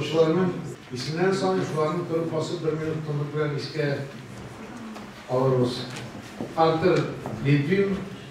укучыларның исемнән соң шуларның торып басып бер минут тынлык белән искә алырбыз. Артур Литвин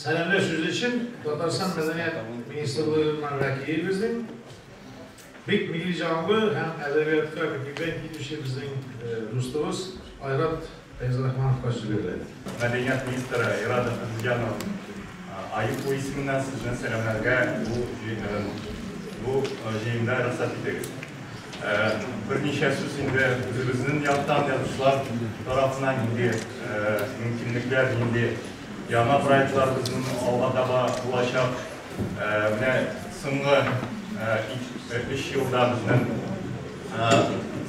Сәламләү сүзе өчен Татарстан мәдәният министрлыгыннан вәкил безнең бик милли җанлы һәм әдәбиятка күптән килүче безнең дустыбыз Айрат Фәйзрахмановка сүз бирелә. Мәдәният министры Айрат Әхмәтзыянов Аипу исеменнән сезне сәламләргә бу җыеннарым бу җыенда рөхсәт итегез. Берничә сүз инде үзебезнен яктан язучылар тарафына нинди мөмкинлекләр, нинди яңа проектлар безнен алга таба булачак. Менә соңгы өч елда безнен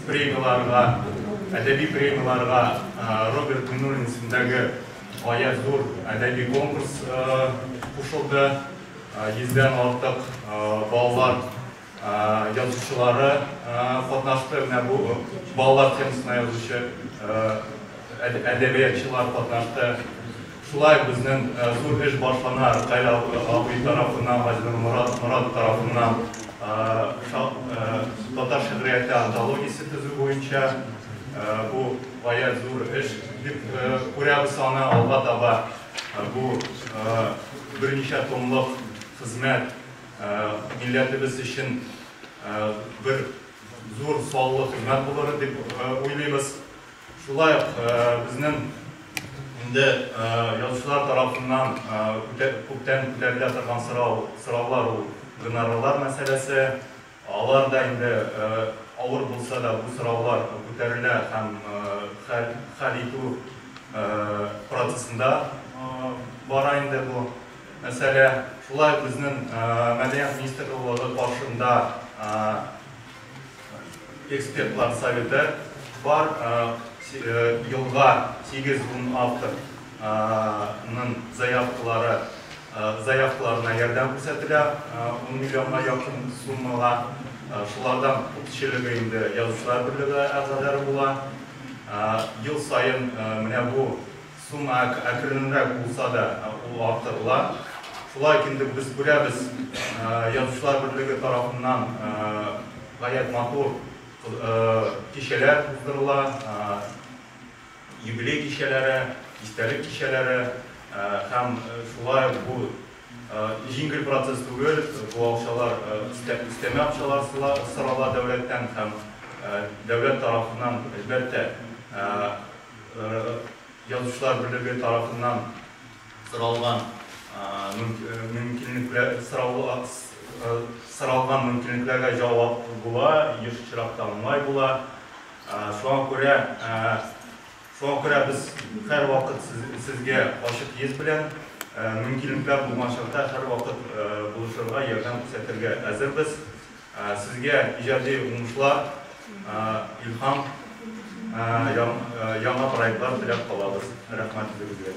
премияларга, әдәби премияларга Роберт Миннуллин исемендәге Гаять зур әдәби конкурс кушылды. Йөздән артык балалар язучылары катнашты. Менә бу балалар темасына язучы әдәбиятчылар катнашты. Шулай безнең зур эш башлана, Ркаил абый тарафыннан, Газинур Морат тарафыннан татар шигърияте антологиясе төзү буенча. Бу. Гаять зур эш дип күрәбез аны, алга таба бу берничә томлык хезмәт милләтебез өчен бер зур саллы хезмәт булыр дип уйлыйбыз. Шулай ук безнең инде язучылар тарафыннан күптән күтәрелә торган сорау, сораулар ул гонорарлар мәсьәләсе. Алар да инде авыр булса да бу сораулар күтәрелә һәм хәл хәл итү процессында бара инде бу мәсьәлә. Шулай ук безнең Мәдәният министрлыгы каршында экспертлар советы бар. Елга 8-10 автор ның заявкалары Заявкаларына ярдәм күрсәтелә, ун миллионга якын суммага. Шулардан күпчелеге инде Язучылар берлеге әгъзалары була. Ел саен менә бу сумма әкренрәк булса да, ул арттырыла. Шулай ук инде без күрәбез, Язучылар берлеге тарафыннан гаять матур кичәләр уздырыла. Юбилей кичәләре, истәлек кичәләре һәм шулай ук бу җиңел процесс түгел, бу акчалар өстәмә акчалар сорала дәүләттән һәм дәүләт тарафыннан, әлбәттә, Язучылар берлеге тарафыннан соралган мөмкинлекләргә җавап була, еш очракта уңай була. Шуңа күрә, шуңа күрә без һәрвакыт сез, сезгә ачык йөз белән, мөмкинлекләр булган чакта һәрвакыт булышырга, ярдәм күрсәтергә әзербез. Сезгә иҗади уңышлар, илһам, яңа проектлар теләп калабыз. Рәхмәт үзегезгә.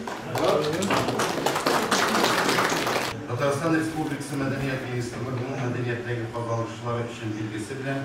Татарстан Республикасы Мәдәният министрлыгының мәдәнияттәге казанышлары өчен билгесе белән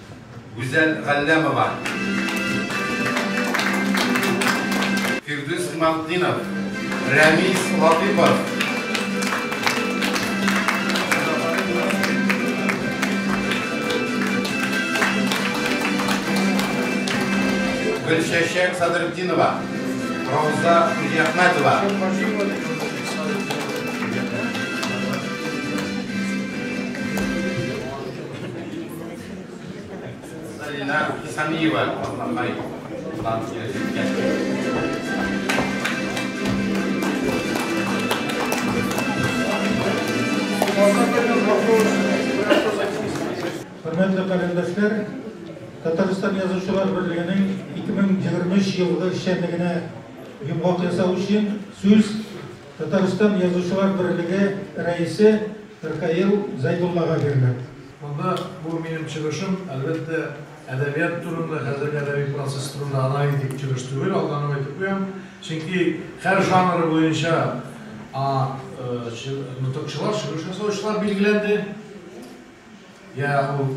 Гүзәл Галләмова. Фирдүс Мартдинов. Рәмис Латыйпов. Гөлчәчәк Садырдинова. Рауза Хуҗиәхмәтова. Зарина Исамиева Атланбай Ислам Хөрмәтле календәшләр, Татарстан язучылар берлегенең 2023 елгы эшчәнлегенә йомгак ясау өчен сүз Татарстан язучылар берлеге рәисе Ркаил Зайдуллага бирелә. Монда бу минем чыгышым, әлбәттә, әдәбият турында, хәзерге әдәби процесс турында анализ итеп чыгыш түгел, алданып әйтеп куям. Чөнки һәр жанры буенча нотыкчылар, чыгыш ясаучылар билгеләнде. Йә ул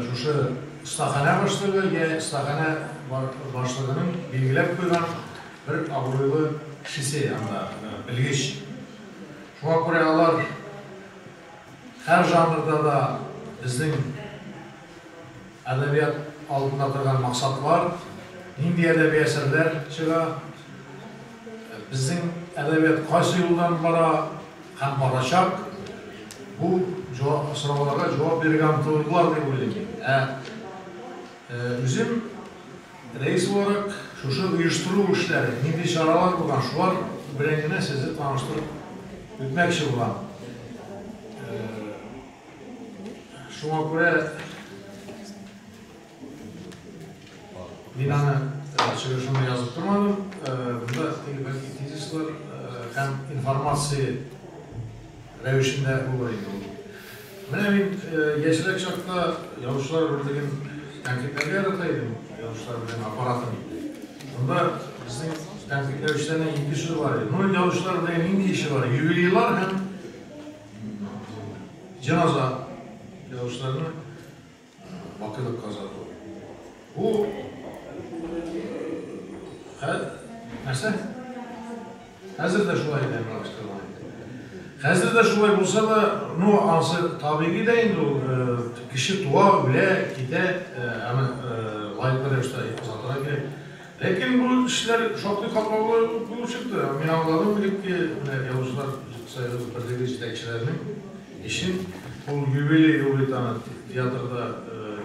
шушы остаханә башлыгы, йә остаханә башлыгының билгеләп куйган бер абруйлы кешесе анда, белгеч. Шуңа күрә алар Һәр жанрда да безнең әдәбият алдында торган максатлар, нинди әдәби әсәрләр чыга, безнең әдәбият кайсы юлдан бара һәм барачак, бу сорауларга җавап бирергә омтылырлар дип уйлыйм мин. Үзем рәис буларак, шушы оештыру эшләре, нинди чаралар булган, шулар белән генә сезне таныштырып үтмәкче булам. Шуңа күрә мин аны чыгышымда язып тормадым. Монда тизислар һәм информация рәвешендә булыр иде ул. Менә мин яшьрәк чакта язучылар берлеген тәнкыйтьләргә ярата идем, язучылар берлеге аппаратын. Монда безнең тәнкыйтьләүчеләрнең ике сүзе бар иде. Ну, язучылар берлеге нинди эше бар? Юбилейлар һәм җеназа язучыларның Бакыны казату. Бу хәл нәрсә? Хәзер дә шулай иде Әмралыштырма. Хәзер дә шулай булса да, ну, ансы табигый да инде ул э, кеше туа, үлә, китә, э, аны э, лаеклы рәвештә озатырга кирәк. Ләкин бу эшләр шактый катлаулы ук булып чыкты. Мин аңладым, элекке менә Язучылар союзы берлеге җитәкчеләренең эшен ул юбилей елы бит аны театрда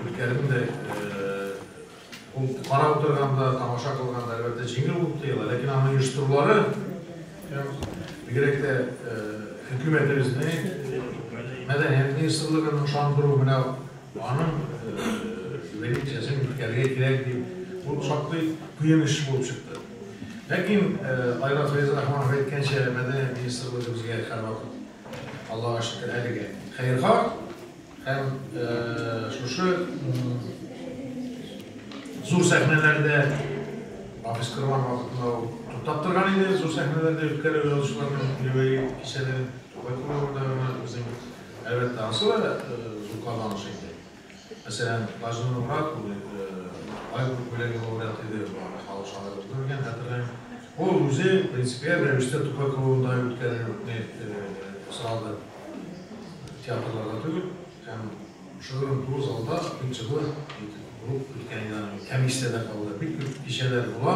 үткәрүне дә ул карап утырганда, тамаша кылганда, әлбәттә, җиңел булып тоела, ләкин аны оештырулары һәм бигрәк тә хөкүмәтебезнең, мәдәният министрлыгының ышандыру менә Аның лекциясен үткәрергә кирәк дип, бу шактый кыен эш булып чыкты. Ләкин Айрат Фәйзрахманов әйткәнчә, мәдәният министры үзебезгә һәрвакыт, Аллага шөкер, әлегә хәерха һәм шушы зур сәхнәләрдә Хафиз Корман вакытында ул туктап торган иде, зур сәхнәләрдә үткәрү язучыларның юбилей кичәләрен. Байтур да безнең Әлбәттә, анысы да зур казаныш инде. Мәсәлән, Газинур Морат улы Ай күк бүләге лауреаты иде, бу аны халык шагыйре итеп белгән, хәтерләйм. Ул үзе принципиаль рәвештә Тукай круында үткәрүне сорады, театрларда түгел, һәм шушы уку залда принципы булып үткән иде аның. Комиссиядә калды. Бик күп кичәләр була.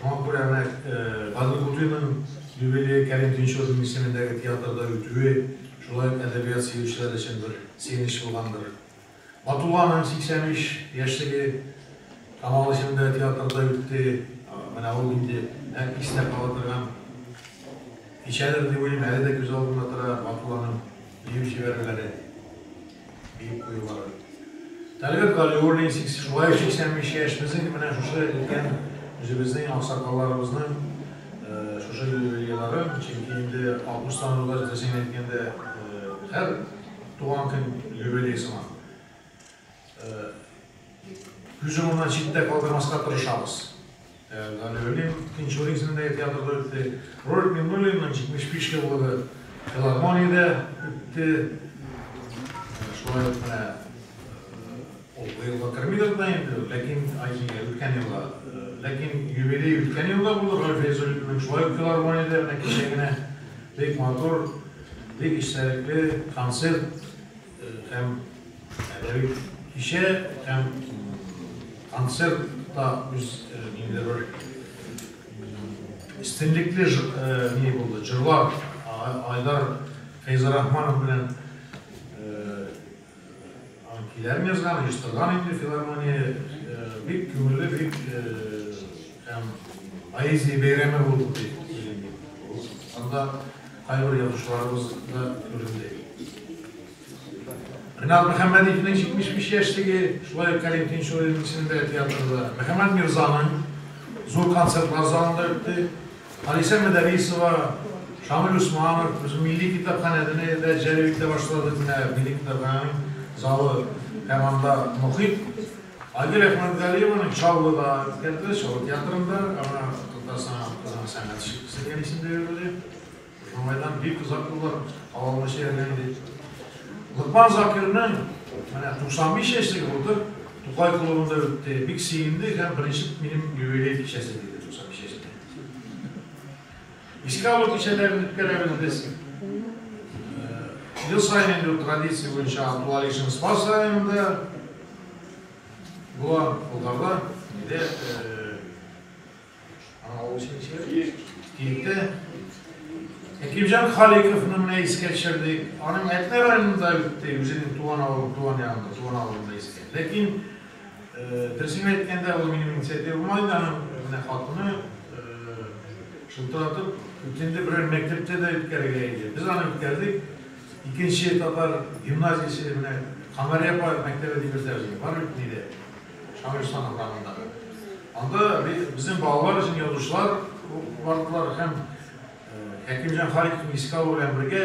Шуңа күрә менә Гали Гутыйның юбилее Кәрим Тинчурин исемендәге театрда үтүе шулай ук әдәбият сөючеләр өчен бер сөенеч булгандыр. Батулланың 83 яшьлеге Камал исемендәге театрда үтте. Менә ул инде нәкъ истә кала торган кичәдер дип уйлыйм, әле дә күз алдымда тора Батулланың бию чибәрлеге. диеп куюлары. Тәлгать Галиуллин, сез шулай ук 85 яшьнезнең менә шушы өлкән үзебезнең аксакалларыбызның шушы юбилейлары, чөнки инде 60 санауда рәсмисен әйткәндә һәр туган көн юбилей сыман. Күз уңыннан читтә калдырмаска тырышабыз. Галя Велим Тинчур исемендәге театрда үтте. Рольф Миңнуллинның 75 еллыгы филармониядә үтте. Шулай ук менә ул быел да кермидер дә инде, ләкин Айкиңе үткән елга. Ләкин юбилей үткән елда булды Рольф Фәйзуллинның. Шулай ук филармониядә менә кичә генә бик матур, бик эчтәлекле концерт. һәм әдәби кичә һәм концерт та үз нинди бер истинлекле ни булды, җырлар Айдар Фәйзрахманов белән киләрен язган, оештырган инде филармония, бик күңелле, бик һәм поэзия бәйрәме булды дип уйлыйм. Анда Кайбер язучыларыбыз да күренде. Ринат Мөхәммәдиевнең 75 яшьлеге, шулай ук Кәрим Тинчуринның исемендәге театрда, Мөхәммәд Мирзаның зур концертлар залында үтте. Алисә Мөдәрисова, Шамил Усманов, үзе милли китапханәдәне дә җәлеп итә башлады. Менә милли китапханәнең залы һәм анда мохит. Айгөл Әхмәтгалиеваның Чаллы да үткәрде, Чаллы театрында, аңа Татарстан халкының сәнгать шикчесе дигән исем дә бирелде. Шулайдан бик озак еллар кала алмыйча йөргән иде. Локман Закирның менә 95 яшьлеге булды, Тукай клубында үтте. Бик сөенде һәм беренче минем юбилей кичәсе диде 95 яшьтә. Искә алу кичәләрен үткәрәбез без. Ел саен инде традиция буенча Абдулалишин Спас районында була, Болгарда, Киевдә, авыл исемче, Киевдә. Әкимҗан Халиковны менә искә төшердек. Аның Әтнә районында үтте, үзенең туган авылы, туган ягында, туган авылында искә. Ләкин Дөресен әйткәндә, ул минем инициативам иде, аның менә хатыны шылтыратып үтенде, берәр мәктәптә дә үткәрергә иде. Без аны үткәрдек. Икенче татар гимназиясе менә Камари апа мәктәбе дип йөртә безне, бар бит нидә, Шамилстан урамындагы. Анда безнең балалар өчен язучылар бардылар һәм Хәкимҗан Халиковны искә алу белән бергә,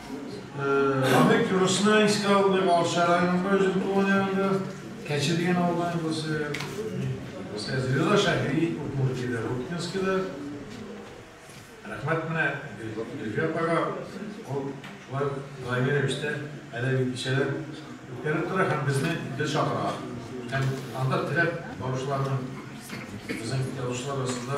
Аны Кюрсна искә алмый калса районында үзем туган ягында Кәче дигән авылдан булсы. Сез Риза Шәһри Удмуртиядә Рубкинскида. Рәхмәт менә Гөлфия апага. Ул шулай даими рәвештә әле бит кичәләр үткәреп тора һәм безне гел чакыра. Һәм анда теләп баручыларның безнең язучылар арасында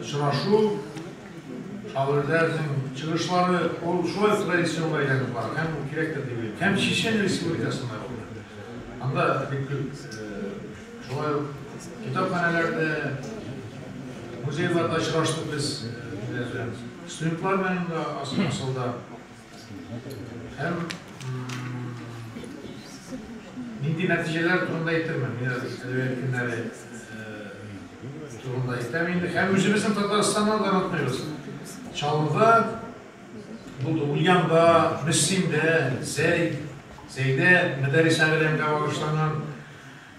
Очрашу, шагыйрьләрнең чыгышлары, ул шулай ук традицион әйләнеп бара һәм бу кирәктер дип уйлыйм. Һәм Чечен Республикасында булды. Анда бик күп шулай ук китапханәләрдә, музейларда очраштык без студентлар белән дә асылда. Һәм нинди нәтиҗәләр турында әйтермен, мин әзер әдәбият көннәре турында әйтәм инде. Һәм үзебезнең Татарстаннан да онытмыйбыз. Чаллыда булды, Ульянда, Мөслимдә, Зәй, Зәйдә мәдәрис әгъләмгә багышланган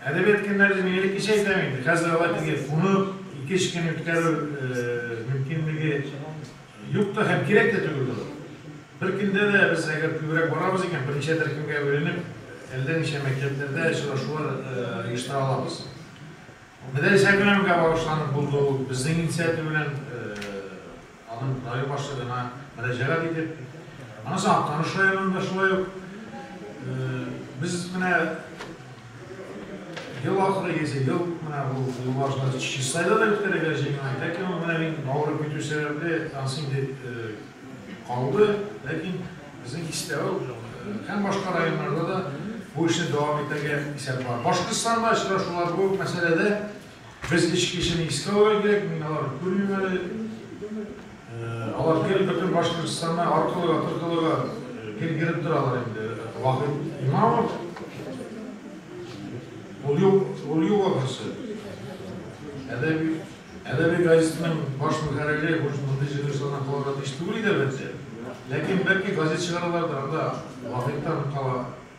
әдәбият көннәре мин элеккечә әйтәм инде. Хәзер алар килгән кунып, ике-өч көн үткәрү мөмкинлеге Юк та һәм кирәк тә түгел ул. Бер көндә дә без әгәр күбрәк барабыз икән, берничә төркемгә бүленеп, әллә ничә мәктәпләрдә очрашулар оештыра алабыз. Мәдрәсә беләнгә багышланып булды ул. Безнең инициатива белән аның район башлыгына мөрәҗәгать итеп, аннан соң Актаныш районында шулай ук без менә Ел ахыры килсә, ел менә бу юлбашчыны чи сайлау да үткәрергә җыенмый. Ләкин ул менә мин авырып китү сәбәпле, тансим дип калды. Ләкин безнең Кистәү һәм башка районнарда да бу эшне дәвам итәргә исәп бар. Башкортстанда очрашулар бу мәсьәләдә. Без эш кешене искә алырга кирәк, мин аларны күрмим әле. Алар гел бөтен Башкортостанда аркылыга, торкылыга гел йөреп торалар инде. Вахит Имамов, ул юк ахрысы. Әдәби газетаның баш мөхәррире мондый җыелышлардан калырга тиеш түгел иде әлбәттә. Ләкин бәлки газет чыгаралардыр, анда Вахиттан кала.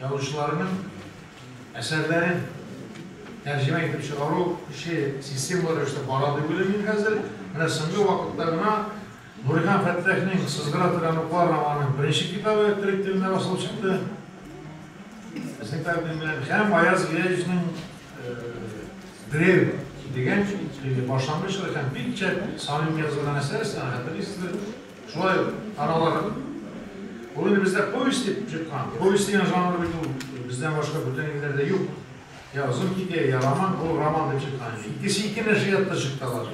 Язучыларның әсәрләрен тәрҗемә итеп чыгару эше системалы рәвештә бара дип уйлыйм мин хәзер. Менә соңгы вакытта гына Нурихан Фәттахның Сызгыра торган уклар романының беренче китабы төрек телендә басылып чыкты. Безнең тәкъдим белән һәм Аяз Гыязовның Древ дигән башлангыч һәм бик шәп самим язылган әсәр, сәнгатьле Шулай ул, аралары. Ул инде бездә повесть дип чыккан. Повесть дигән жанр бит ул бездән башка бүтән илләрдә юк. Я озын хикәя, я роман, ул роман дип чыккан. Икесе ике нәшриятта чыкты алар.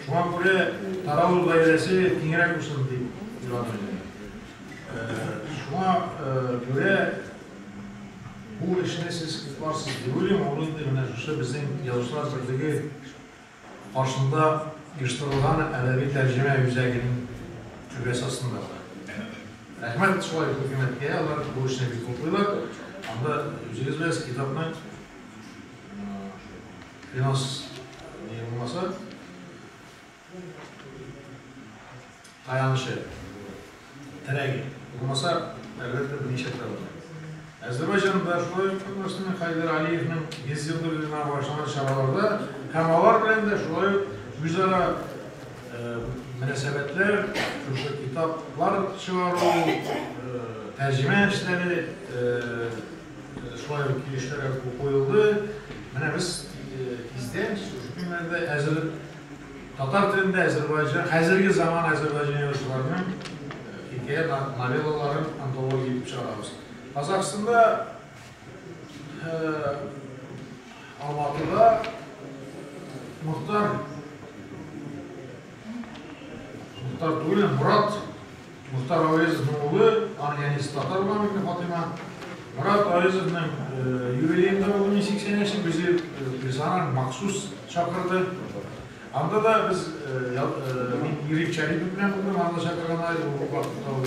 Шуңа күрә Таравыл гаиләсе киңрәк булсын дип уйладым. Шуңа күрә бу эшне сез купларсыз дип уйлыйм. Ул инде менә шушы безнең язучылар берлеге Каршында оештырылган әдәби тәрҗемә үзәгенең түбәсе астында була. Рәхмәт шулай ук хөкүмәткә, алар бу эшне бик хуплыйлар. Анда үзегез беләсез, китапны финанс ни булмаса, таянычы. Терәге булмаса, әлбәттә, берничә тәүлек бар. Әзербайҗанда, шулай ук Татарстанда Хәйдәр Алиевның 100 ел юбилеена багышланган чараларда һәм алар белән дә шулай ук үзара мөнәсәбәтләр, шушы китаплар чыгару, тәрҗемә эшләре, шулай ук килешләр куелды. Менә без тиздән шушы көннәрдә әзер Татар телендә әзербайҗан, хәзерге заман әзербайҗан язучыларының хикәя новеллаларын антология итеп чыгарабыз. Казахстанда Алматыда Мохтар Мохтар түгел, Мурат Мухтар Әвәзовның улы, аның әнисе татар була микән, Фатыйма? Морат Әвәзовның юбилеенда булды мин 80 яши, безне персонал махсус чакырды. Анда да без мин Ирек Чарипов белән булдым, анда чакырган айда бу вакытта ул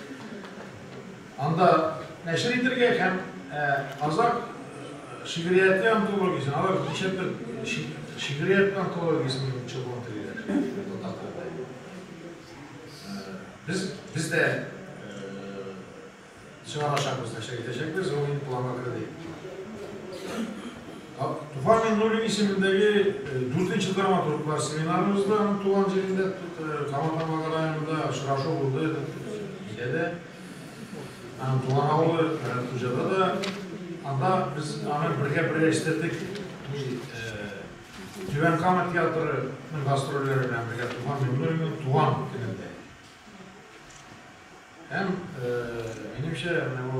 Анда нәшер итергә һәм казакъ шигърияте антологиясен, алар ничә төр шигърият антологиясен чыгуын телиләр. Татар телендә. Без, без дә чыгарачакбыз, нәшер итәчәкбез, ул инде планга керде. Туфан Миңнуллин исемендәге дүртенче драматурглар семинарыбызда аның туган җирендә Кама Тамагы районында очрашу булды. Бездә дә аның туган авылы Рәтхуҗада да анда без аны бергә берләштердек. Түбән Кама театрының гастрольләре белән бергә Туфан Миңнуллинның туган көнендә. Һәм минемчә, менә бу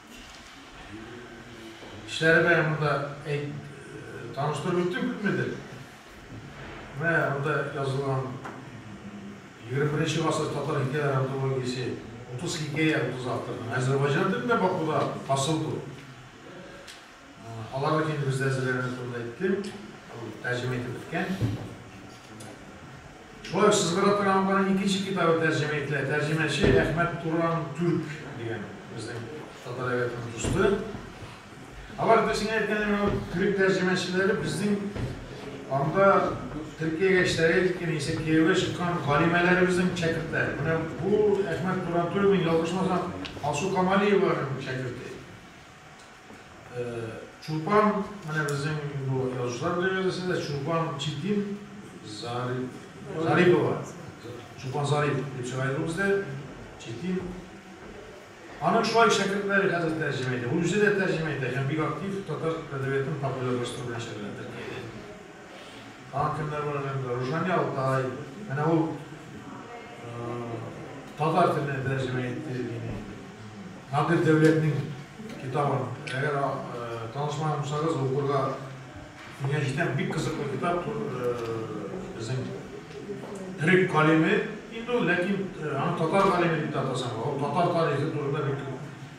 Кешеләре менә монда әйт, таныштырып үттем күпмедер. Менә монда язылган 21 гасыр татар хикәяләре антологиясе 30 хикәя, 30 авторның Әзербайҗан телендә Бакуда хасыл бу. Аларны килеп бездә әзерләгәннәр турында әйттем. Ул тәрҗемә итеп беткән. Шулай сез бара торган барның икенче китабы тәрҗемә ителә. Тәрҗемәче Әхмәт Туран Түрк дигән безнең татар әдәбиятының дусты. Алар да сиңа әйткәнем ул төрек тәрҗемәчеләре безнең анда Төркиягә эшләргә киткән исә кияүгә чыккан галимәләребезнең шәкертләре. Менә бу Әхмәт Туран Түркның ялгышмасам Алсу Камалиеваның шәкерте. Чулпан, менә безнең бу язучылар бригадасында Чулпан Читин Зарипова. Чулпан Зарипов дип чыга иде бездә. Читин. Аның шулай шәкертләре хәзер тәрҗемә итә. Үзе дә тәрҗемә итә һәм бик актив татар әдәбиятын популярлаштыру белән шөгыльләнә. Хакимнәр белән әңгәмә. Рушания Алтай, менә ул татар теленә тәрҗемә итте мине. Надир Дәүләтнең китабын, әгәр танышмаган булсагыз, укырга киңәш итәм. Бик кызыклы китап, безнең төрек галиме инде ул, ләкин аны татар галиме дип тә атасаң, ул татар тарихы турында бик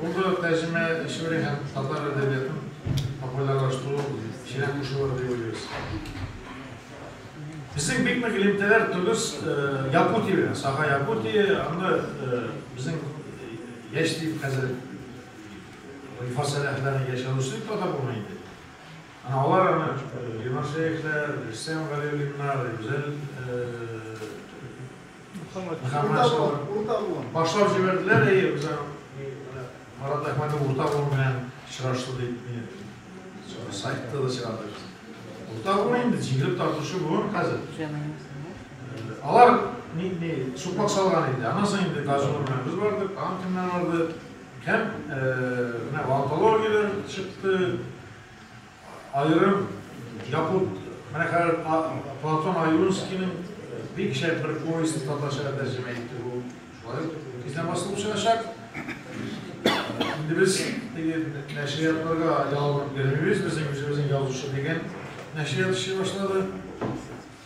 Булды тәрҗемә эшли һәм татар әдәбиятын популярлаштыру эшенә кушылыр дип уйлыйбыз. Безнең бик нык элемтәләр Тугыз Якутия белән, Саха Якутия, анда безнең яшь дип хәзер Рифа Сәләхләрнең яшь язучысы дип атап булмый инде. Ана алар аны Ленар Шәехләр, Рөстәм Галиуллиннар, Гүзәл Башлап җибәрделәр, әйе, үзен Марат Әхмәтов урта буын белән очрашты дип сайтта да чыгарды. Урта буын инде җиңелеп тартучы буын хәзер. Алар не сукмак салган инде. Аннан соң инде Газур белән без бардык, тагын кемнәр барды. Һәм менә онкологияләр чыкты. Аерым якут, менә хәзер Платон Аюнскийның бик шәп бер повестын татарчага тәрҗемә итте бу. Шулай тиздән басылып чыгачак. Инде без теге нәшриятларга ялынып йөрмибез, безнең үзебезнең язучы дигән нәшрият эшли башлады.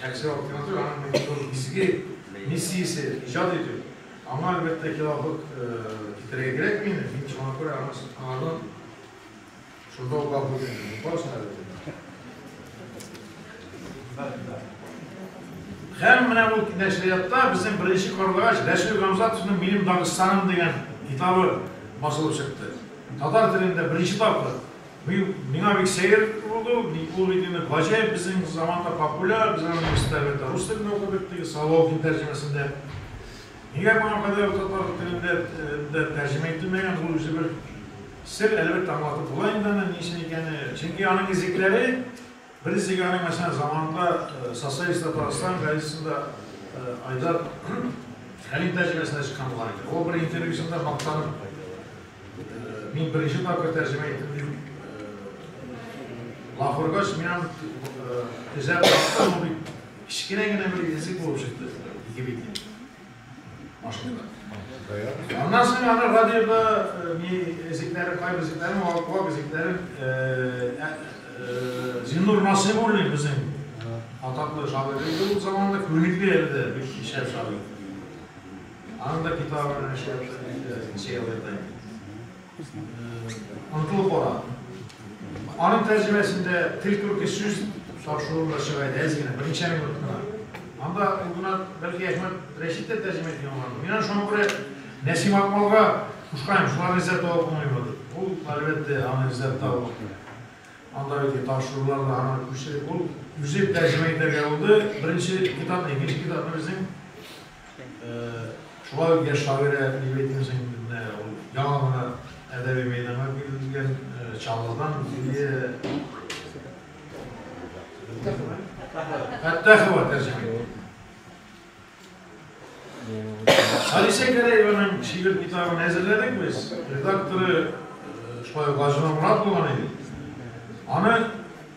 Шәхси альтернатива һәм электронлык изге миссиясе иҗат итү. Аңа, әлбәттә, хилафлык китерергә кирәкми инде, мин шуңа күрә аны сокланырдан шунда ук гафу үтенәм. Мин барысын да белдем. Һәм менә ул нәшриятта безнең беренче карлыгач Рәсүл Гамзатовның Минем Дагыстаным дигән китабы басылып чыкты. Татар телендә беренче тапкыр Быел миңа бик сәер булды ул, мин ул видеоны гаҗәеп безнең заманда популяр, без аны университетта әлбәттә рус телендә укыдык, теге Соловьин тәрҗемәсендә. Нигә моңа кадәр ул татар телендә дә тәрҗемә ителмәгән, ул үзе бер сер, әлбәттә аңлатып була инде аны ни өчен икәне, чөнки аның изекләре, Бер сигарны, мәсәлән, заманында социалистлар Татарстан газетасында Айдар Хәлим тәрҗемәсенә чыккан булган иде. Ул бер интервьюсында мактанып, мин беренче тапкыр тәрҗемә иттем дип лафыргач, мин аны эзләп таптым, ул бит кечкенә генә бер язык булып чыкты, ике бит. Машина. Аннан соң аны радиода ни зикләре, кайбы зикләре, вак зикләре Зиннур Насыйбуллин безнең атаклы шагыйрь иде ул заманда, күнекле әле дә бик шәп шагыйрь. Аның да китабы белән эшләп, сериал ята иде. Ныклы кара. Аның тәрҗемәсендә тел күрке сүз тапшыруы да чыга иде, әз генә, берничә минут кына. Анда ул гына, бәлки, Әхмәт Рәшит тә тәрҗемә иткән булгандыр. Мин аны шуңа күрә Нәсим Акмалга кушкан идем, шуларны эзләп таба булмыймы дип. Ул, әлбәттә, аны эзләп табып, анда бит тапшырулар да һаман күчереп, ул үзе тәрҗемә итәргә булды. Беренче китапны, икенче китапны безнең Шулай ук яшь шагыйрә Лилия Тиншинкина ул яңа гына әдәби мәйданга килгән Чаллыдан Лилия Фәттахова тәрҗемә итте. Алисә Гәрәеваның шигырь китабын әзерләдек без. Редакторы шулай ук Гаҗина Морат булган иде. Аны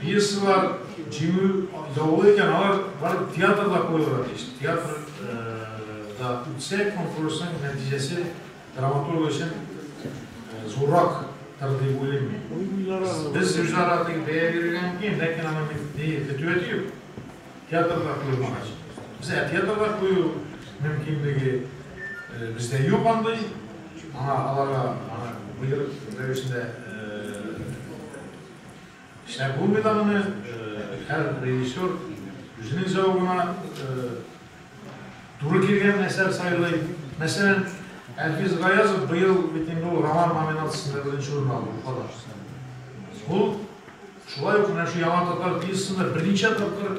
Пьесалар җиңү яулый икән, алар барып театрда куелырга тиеш. Театрда үтсә, конкурсның нәтиҗәсе драматург өчен зуррак тыр дип уйлыйм мин. Без үзара теге бәя бирергә мөмкин, ләкин аны ни фетүәте юк. Театрда куелмагач. Без ә театрда кую мөмкинлеге бездә юк андый. Аңа аларга аны боерык рәвешендә Шәп булмый дагыны, һәр режиссер үзенең зәвыгына туры килгән әсәр сайлый. Мәсәлән, Әлфис Гаязов быел бит инде ул роман номинациясендә беренче урын алды, Уфада. Ул шулай ук менә шу Яңа татар пьесасында берничә тапкыр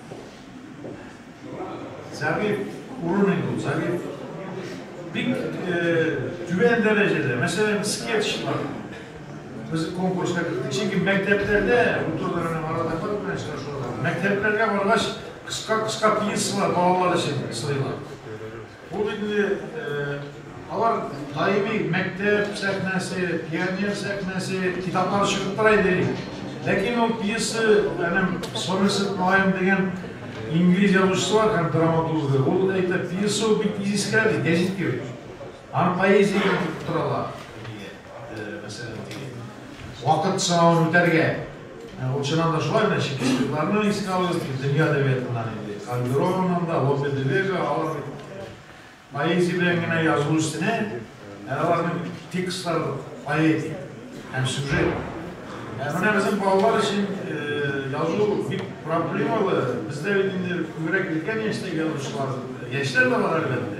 Зәгыйф урыны бу, зәгыйф. Бик түбән дәрәҗәдә, мәсәлән, скетчлар. Без конкурска кердек. Чөнки мәктәпләрдә, утырдык менә арада фат белән очрашулар. Мәктәпләргә баргач, кыска-кыска пьесалар балалар өчен сыйлар. Ул инде алар даими мәктәп сәхнәсе, пионер сәхнәсе, китаплар чыгып тора иде элек. Ләкин ул пьеса, әнем Сомерсет Малаем дигән инглиз язучысы бар һәм драматургы. Ул әйтә, пьеса бик искә ди, гәзит кебек. Аны поэзия итеп торалар. Вакыт сынавын үтәргә, ул чыннан да шулай менә Чекистикларны искә алыйк, дөнья әдәбиятыннан инде, Кальдероннан да, Лопе де Вега, алар бит поэзия белән генә язу өстенә, ә аларның текстлары поэтик һәм сюжет. Ә менә безнең балалар өчен язу бик проблемалы, бездә бит инде күбрәк өлкән яшьтәге язучылар, яшьләр дә бар әлбәттә.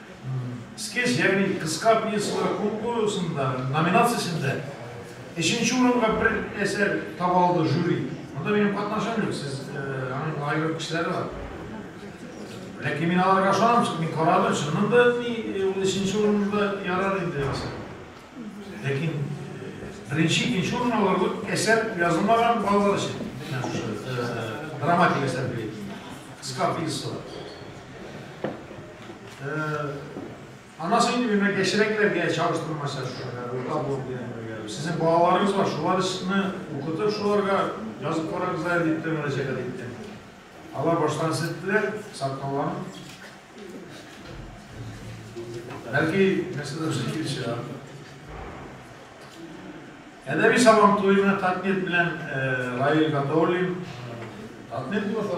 Скетч, ягъни кыска пьесалар конкурсында, номинациясендә өченче урынга бер әсәр таба алды жюри. Монда минем катнашым юк, сез аның аерым кешеләре бар. Ләкин мин аларга ышанам, чөнки мин карадым, чыннан да ни ул өченче урында ярар инде ясар. Ләкин беренче, икенче урын алар әсәр язылмаган балалар өчен. Драматик әсәр бит. Кыска пьеса. Анасы инде менә кечерәкләргә чагыштырмача шушында урта булып дигән бергә. Сезнең балаларыгыз бар, шуларны укытып, шуларга язып карагыз әле дип тә мөрәҗәгать иттем. Алар баштан сеттеләр, саткаларын. Бәлки, нәрсәдә шул килешә. Әдәби сабан туена Татнет белән Раил Гатауллин Татнет булса,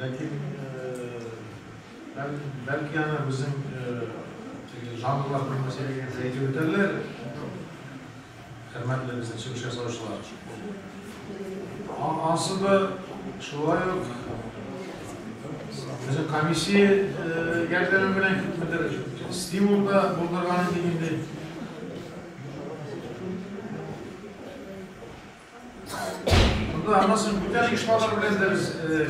Ләкин, бәлки, аны безнең теге жанрлар белмәсә дигән фәйдә үтәрләр, хөрмәтле безнең чыгыш ясаучылар. Ансы да шулай ук безнең комиссия ярдәме белән күпмедер стимул да булдырган иде инде. Монда аннан соң бүтән оешмалар белән дә без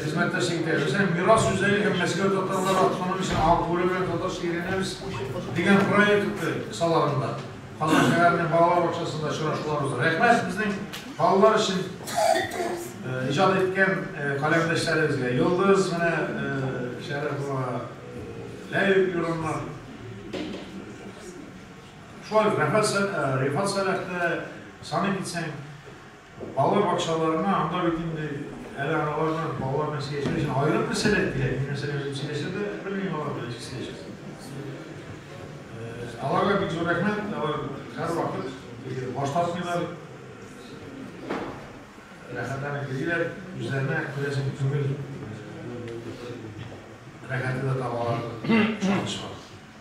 хезмәттәшлек итәбез. Һәм Мирас үзәге һәм Мәскәү татарлары автономиясен алып бүлү белән татарча өйрәнәбез дигән проект кысаларында Казан шәһәренең балалар бакчасында очрашулар уза. Рәхмәт безнең балалар өчен иҗат иткән каләмдәшләребезгә. Йолдыз менә Шәрәфова, Ләйүк Юрамнар. Шулай ук Рифат Сәлахта саный китсәң, балалар бакчаларына, анда бит инде әле аналарның балалар белән сөйләшер өчен аерым бер сәләт кирәк. Мин мәсәлән үзем сөйләшә дә белмим алар белән ничек сөйләшәсең. Аларга бик зур рәхмәт, алар һәрвакыт баш тартмыйлар. Рәхәтләнеп йөриләр, үзләренә күрәсең түгел. Рәхәте дә табалар.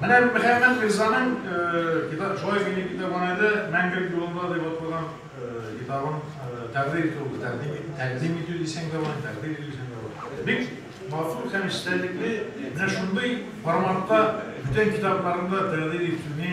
Менә Мөхәммәт Мирзаның китабы, шулай ук минем китапханәдә Мәңгелек юлында дип аталган китабын тәкъдир итү булды. Тәкъдим итү дисәң дә була, тәкъдир итү дисәң дә була. Бик матур һәм эчтәлекле менә шундый форматта бүтән китапларны да тәкъдир итүне,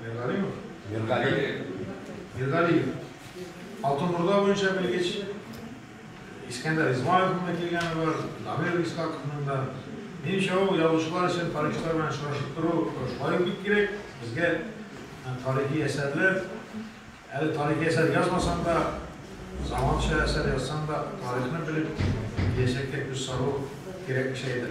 Миргалимов. Миргалиев. Миргалиев. Алтын Урда буенча белгеч. Искәндәр Измайловның да килгәне бар, Дамир Искаковның да. Минемчә, ул язучылар өчен тарихчылар белән очрашып тору шулай ук бик кирәк. Безгә тарихи әсәрләр, әле тарихи әсәр язмасаң да, заманча әсәр язсаң да, тарихны белеп, киләчәккә күз салу кирәк кешегә дә.